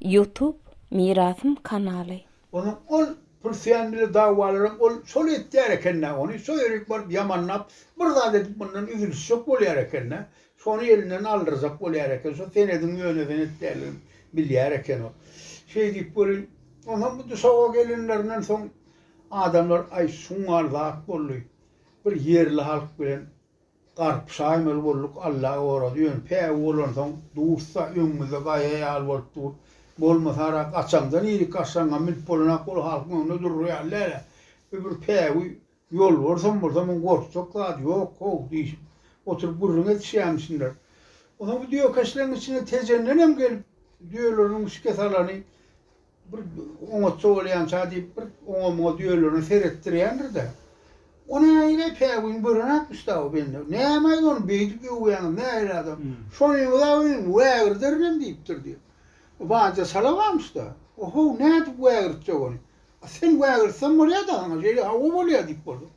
Ýutub mirasym kanaly. Onuň ol pul söýen bile dawalaram ol şol etýär ekendä ony şo ýerik baryp ýamanlap bir zat edip mundan üzülişjek bolýar ekendä şony elinden aldyrjak bolýar eken şo senediň ýönezen etýänligini bilýär eken ol şeý diýip welin onam bu duşaga gelinlerinden soň adamlar aý şuňňal zat boldy bir ýerli halk bilen Garpy şaýmaly bolduk Alla gorazy ýöne päwü bolansoň dursa öňümizde gaýa ýaly bolup dur bolmasara gaçaňdan ýerik gaçsaňam münüp bolanak ol halkyň öňünde durur ýaly dälä we bir päwü ýolbarsam bolsa muň gorkjak zady ýok how diýşip oturyp gürrüň edişýämişinler onsoň bu düýekeşleň içinde Tejendenem gelip düýeleriniň şikes alany Bir oňatsa bolýança diýip, bir oňa-muňa düýelerine seretdirýändir-de, O nähili päwügiň börenak müstäwi bende. Nämäýdi ony beýdip öwýäňiz, nähili adam. Şonyňyz-a öýüňi wägirderin-em diýipdir diýip. Banja çala barmyş-da. O-how, nädip wägirtjek ony. A sen wägirtseň bolýa-da saňa, şeýle hawa bolýa diýip bolsa.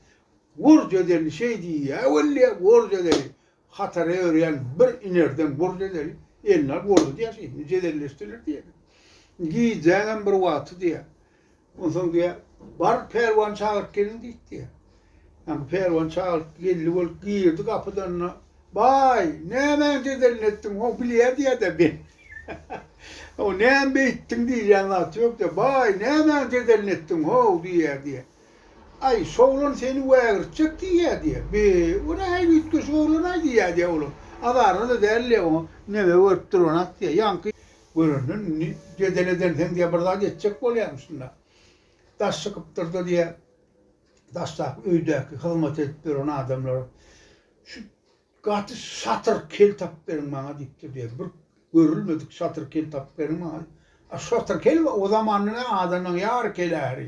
Gorja deli şeý diýýä weli, gorja deli. Hatara örýän bir inerden gurdeleri eline alyp urdy diýýär şeýdip, jedelleşdiler diýýär. Gijäňem bir wagty diýýär. Onsoň diýýär, Bar, pälwany çagyryp geliň diýdi diýýär. Ýa pälwany çagyryp geldi bolup girdi gapydan-da, Baý, nämäň jedelini etdiň, howw bilýär diýýär-de ben. Howw, näme beýtdiň diýjän zat ýok diýýär. Baý, nämäň jedelini etdiň, howw diýýär diýýär. Aý, şoglan seni wägirtjek diýýä-diýýä. Be, o nähili üýtgeşik oglan-aý diýýä-diýýä olam. Azaryna-da däl-le oňa. Neme görüp dur oňat diýýä. Ýaňky. Görenden indi jedel edensiň diýýä, bir zat etjek bolýamyşyn-da. Daş çykypdyr-da diýýä. Daşdaky öýdäki hyzmat edip ýören adamlar şu. Gaty şatyr kel tapyp beriň maňa diýipdir diýýär. Bir görülmedik şatyr kel tapyp beriň maňa diýip. A şatyr kel o zamanda näme adamlaň ýary kel äri.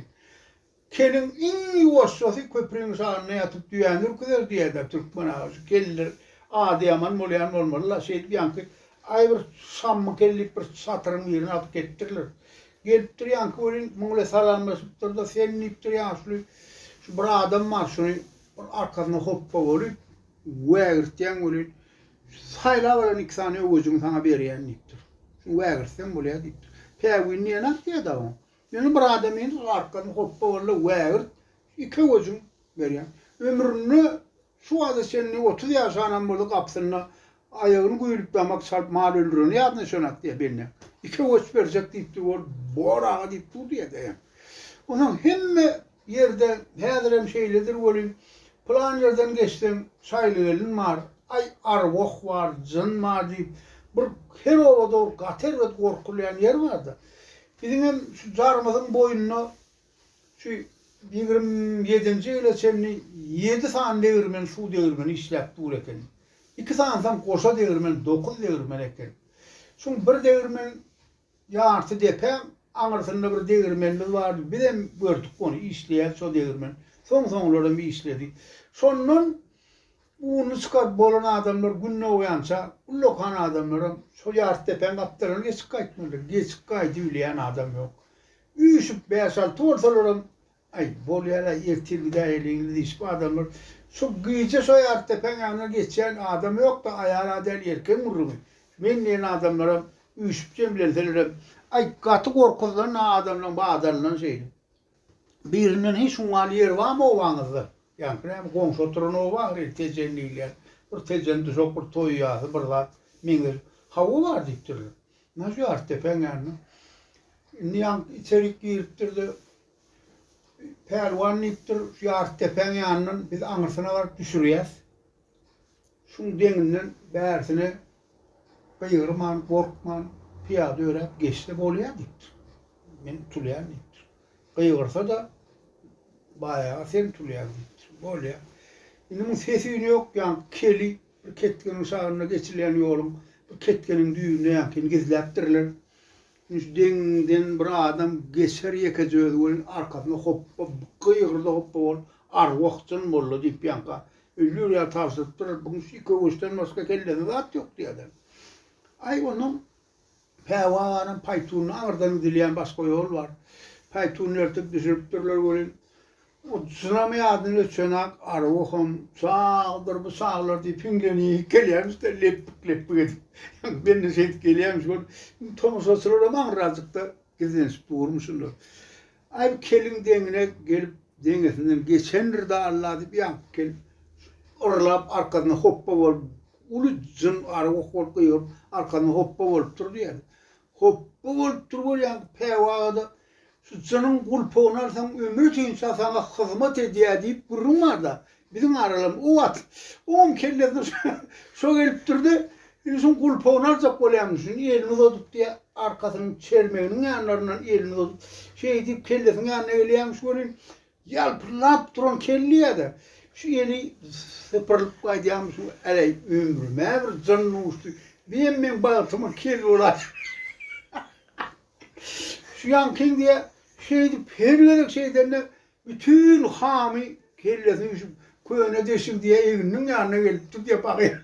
Keliň iň ýuwaşjasy köpriň şanynda ýatyp düýäni ürküzer diýýär-dä türkmen aga. Şu keller ady ýaman bolýan bolmaly-la. Şeýdip ýaňky aý bir şammy kel diýip bir şatyryň birini alyp ketipdirler. Gelipdir ýaňky welin muň ile salamlaşypdyr-da, sen diýipdir ýaşuly şu bir adam bar şuny bir arkasyna hopba bolup Wägirtýäň welin, saýlap alan iki sany öwejiňi saňa berýän diýipdir. Şuny wägirtsem bolýar diýipdir. Päwini neneňk diýýär-de oň. Ýöne bir adam indi arkasyny hopba walla wägirt, iki öwejiň berýän. Ömründe şu wagta çenli otuz ýaşanam bolsa gapysynda aýagyny güýlüp damak çalyp mal öldüreni ýadyna düşenak diýýär bende. İki öweç berjek diýipdir, ol bor aga diýip dur diýýär daýaň. Onsoň hemme ýerde, häzirem şeýledir welin, pylan ýerden geçseň, Şaýlygelin bar, aý, arwah bar, jyn bar diýip, bir her obada bir gaty erbet gorkulýan ýer bar-da. Biziňem şu Jarmyzyň boýunda şu ýigrimi ýedinji ýyla çenli ýedi sany degirmen, suw degirmeni işläp dur eken. Iki sanysam goşa degirmen, dokuz degirmen eken. Şuň bir degirmen Ýarty depäň aňyrsynda bir degirmenimiz bardy. Bizem gördük ony, işleýärdi şo degirmen. Soň-soňlaram işledi. Şondan ununy çykaryp bolan adamlar gün dogýança, ullakan adamlaram şo ýarty depäň gapdalyndan geçip gaýtmalydyr. Geçip gaýdybilýän adam ýok. Üýşüp bäş-alty bolsalaram, Aý, bolýar-aý, ertir gidäýeliňiz diýşip, adamlar Şu gije şo ýaly depäň ýanyna geçýän adam ýok-da, aýal-a däl, erkegiň gürrüňi. Men diýen adamlaram üýşüp jemlenselerem, aý, gaty gorkuzdan-a adamlaryň badalyndan şeýle. Birinden Heý, şuňňaly ýer barmy obaňyzda? Ýaňky näme, goňşy oturan oba ahyry, Tejen diýilýär. Bir Tejen duşak, bir toý ýasy, bir zat meňzeş. Hawa, bar diýipdirler. Ynha, şu ýaly depäň ýanyna. Indi ýaňky içerik giripdir-de, Pälwan diýipdir, şu ýarty depäň ýanyndan biz aňyrsyna baryp düşürýäs. Şuň deňinden bärsine gygyrman, gorkman pyýada öräp geçse bolýar diýipdir. Men utulýan diýipdir. Gygyrsa-da baýaga sen utulýaň diýipdir. Bolýar. Indi muň ses-üýni ýok, ýaňky keli bir ketginiň şagynda geçilýän ýoluň bir ketginiň düýbünde ýaňkyny gizläpdirler. Indi deňiňden bir adam geçer ýekeje özi welin arkasyna hopba gygyrdy hopba ol arwah-jyn molla diýip ýanka öýler ýaly tabşyryp durur bu kişi köwüşden başga kellesinde zat ýok diýer adam. Aý onnoň Päwa aganyň paýtunyny aňyrdan gidilýän başga ýol bar. Paýtunyny ertip düşüripdirler welin Ol çynamy adyny öçen-ak Aruham sagdyr, bu saglar diýip hiňlenip gelýärmiş-de, lepbik-lepbik edip. Men-de şeýdip gelýämiş görüp, indi tomaşaçylaram aňyrajykda gizlenişip durmy şunda. Aý, bu kelin deňine gelip, deňesinden geçendir-dä Alla diýip ýaňky kelin yrlap arkasyna hopba bolup, uly jyn Aruh bolup gygyryp arkasyna hopba bolup durdy ýaly. Hopba bolup duruber ýaňky päwagada Sütjeniň gulpugyny alsaň, ömrütünçä saňa hyzmat edýär diýip gürrüň bar-da, biziň aralam o wagt. Oňam kellesine şo gelip durdy, indi şuň gulpugyny aljak bolýamyş, indi elini uzadyp diýýä, arkasynyň çermeginiň ýanlaryndan elini uzadyp, şeýdip kellesiň ýanyna gelýämiş welin, Ýalpyldap duran kelleýä-de şu eli sypyrylyp gaýdýamyşyn, äleý, ömrüm-ä bir jyn duşdy, diýen meň bagtyma kel bolaýsyn. Şu ýaňkyň diýýä, şeýdip her gezek şeýdende bütin hamy kellesine düşüp, köne deşiň diýýä egniniň ýanyna gelipdir diýýä, bagýa.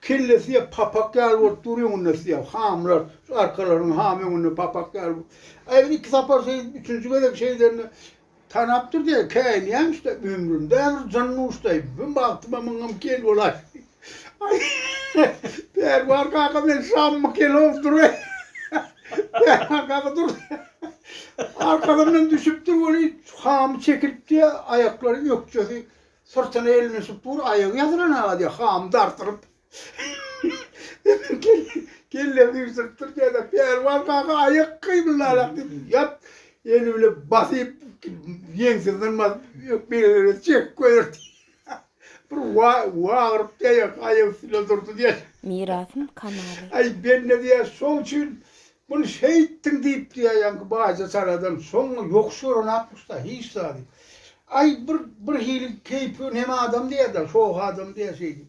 Kellesi ýa papak ýaly bolup dur, öňünde syýa hamlar, şu arkalaryň hamy öňünde papak ýaly bolup. Aý bir iki sapar şeý, üçünji gezek şeýdende tanapdyr diýýär, käýinýämiş-de, ömrümde bir jyn duşdaý, bu bagtyma myňňam kel bolaýşy. Aý, Pälwan kaka men şammy kelow dur-aý. Pälwan kaka dur. Arkasyndan düşüpdir welin, hamy çekilipdi, aýaklary, ökjesi Syrtyna elini süpür, aýagy ýazylan aga diýip, hamy dartyryp, kelle süýşüripdir, şeýle Pälwan kaka aýak gybyllalak diýip, ýat, eli bilen basyp, ýeňsesinden basyp, ökjelerini çekip goýberdi. Bir wagyryp, aýak üstünde durdy diýýär. Mirasym kanaly. Aý, bende diýýär, şol üçin Muny şeýtdiň diýip diýäýenki baýja çaladan soňra ýokuş görenakmyşda hiç zady. Aý bir bir hili keýpi nem adam diýerler, soh adam diýer şeýdip.